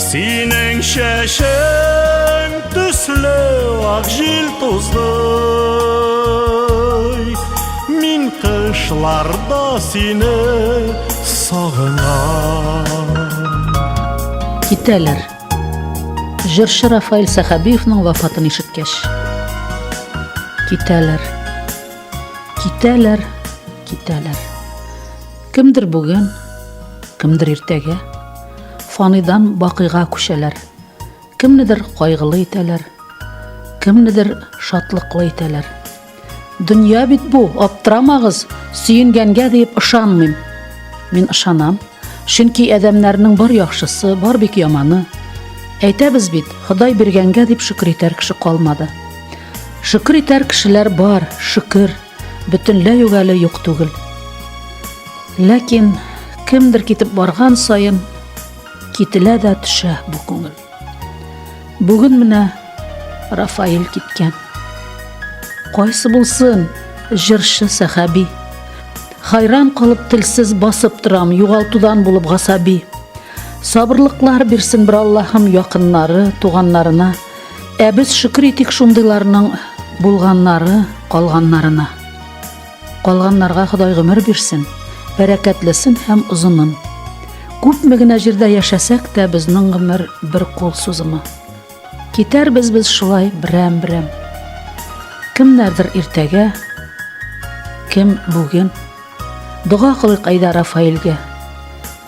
Синең чәчең төсле ак җил тузды Мин кышларда сине сагынам Китәләр. Җырчы Рафаил Сәхәбиевның вафатын ишеткәч. Китәләр. Китәләр, китәләр. Кемдер бүген, кемдер иртәгә. фаныйдан бакыйга күчәләр. Кемнедер кайгылы итәләр, кемнедер шатлыклы итәләр. Дөнья бит бу, аптырамагыз, сөенгәнгә диеп ышанмыйм. Мин ышанам, чөнки адәмнәрнең бар яхшысы, бар бик яманы. Әйтәбез бит, Ходай биргәнгә дип шөкер итәр кеше калмады. Шөкер итәр кешеләр бар, шөкер. Бөтенләй үк әле юк түгел. Ләкин кемдер китеп барган саен кителә дә төшә бу күңел. Бүген менә Рафаил киткән. Кайсы булсын, җырчы сәхәби. Хайран калып телсез басып торам, югалтудан булып гасаби. Сабырлыклар бирсен бер Аллаһым якыннары, туганнарына. Ә без шөкер итик шундыйларның булганнары калганнарына. Калганнарга Ходай гомер бирсен, бәрәкәтлесен һәм озынын. Күпме генә җирдә яшәсәк тә, безнең гомер бер кул сузымы. Китәрбез без шулай берәм-берәм. Кемнәрдер иртәгә, кем бүген. Дога кылыйк әйдә Рафаэльгә.